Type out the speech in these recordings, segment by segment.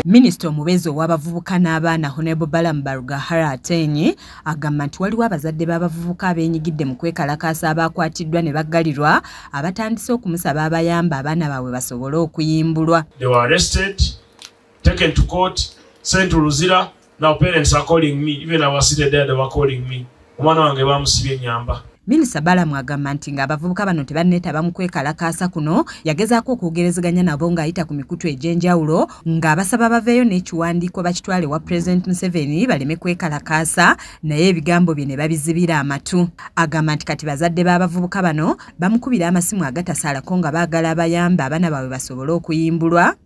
Minisita omubeezi ow'abavubuka n'abaana Honorable Balaam Barugahara Ateenyi agamba nti waliwo abazadde b'abavubuka abeenyigidde mu kwekalakaasa abaakwatiddwa ne baggalirwa abatandise okumusaba abayamba abaana baabwe basobole okuyimbulwa. They were arrested taken to court sent to luzira now parents are calling me even our city dad were calling me omwana wange bamusibye nyamba minisita balamu agamba nti ng'abavubuka bano tebanneetaba mu kwekalakaasa kuno yagezaako okwogerezeganya nabo ng'ayita ku mikutu egy'enjawulo ng'abasaba baveeyo n'ekiwandiiko bakitwale wa pulezidenti museveni baleme kwekalakaasa naye ebigambo bye ne babizibira amatu agamba nti kati bazadde b'abavubuka bano bamukubira amasimu agatasaalako nga baagala abayamba abaana baabwe basobole okuyimbulwa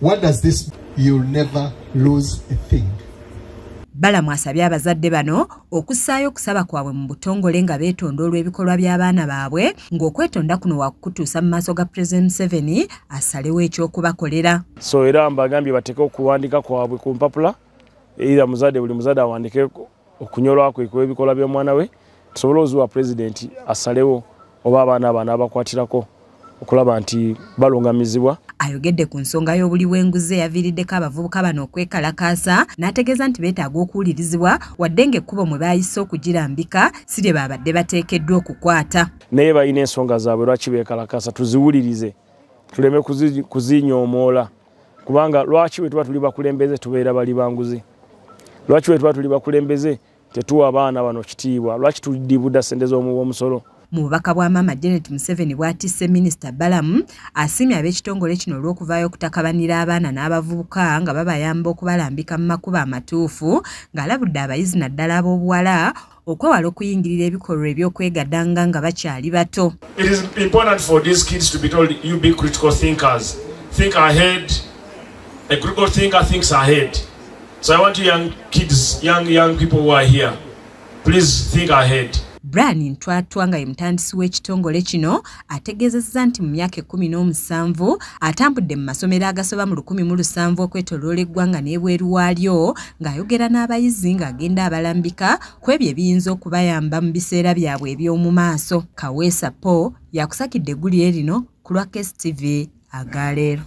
What does this you'll never lose a thing. Balamu asabye abazadde bano okussaayo okusaba kwabwe mu butongole nga beetonda olw'ebikolwa by'abaana baabwe ng'okwetonda kuno wakukutuusa mu maaso ga President Museveni asalewo eky'okubakolera. So era mbagambye bateeke okuwandiika kwabwe ku mpapula era muzadde buli muzadde awandiikeko okunyolwa kwe kw'ebikolwa by'omwana we tusobole ozuwa pulezidenti asalewo oba abaana abaana abakwatirako okulaba nti balungamizibwa ayogedde ku nsonga y'obuli w'enguzi eyaviiriddeko abavubuka bano okwekalakaasa n'ategeeza nti beetaaga okuwulirizibwa wadde ng'ekkubo mwe baayise okugirambika si lye baabadde bateekeddwa okukwata naye balina ensonga zaabwe lwaki beekalakaasa tuziwulirize tuleme kuzinyoomoola kubanga lwaki wetuba tuli bakulembeze tubeera bali banguzi lwaki wetuba tuli bakulembeze tetuwa abaana bano kitiibwa lwaki tudibuda sente z'omuwomusolo mu bubaka bwa maama janet museveni bwatisse minisita balamu asiimye ab'ekitongole kino olw'okuvaayo okutakabanira abaana n'abavubuka nga babayamba okubalambika mu makuba amatuufu ng'alabudde abayizi naddala ab'obuwala okwewala okuyingirira ebikolwa eby'okwegadanga nga bakyali bato brian ntwatwa nga ye mutandisi w'ekitongole kino ategeezezza nti mu myaka ekkumi n'omusanvu atambudde mu masomero agasoba mu lukumi mu lusanvu okwetoloola eggwanga n'ebweru waalyo ng'ayogera n'abayizi ng'agenda abalambika ku ebyo ebiyinza okubayamba mu biseera byabwe eby'omu maaso kaweesa po yakusakidde eggulire lino ku lwa kstv agaleero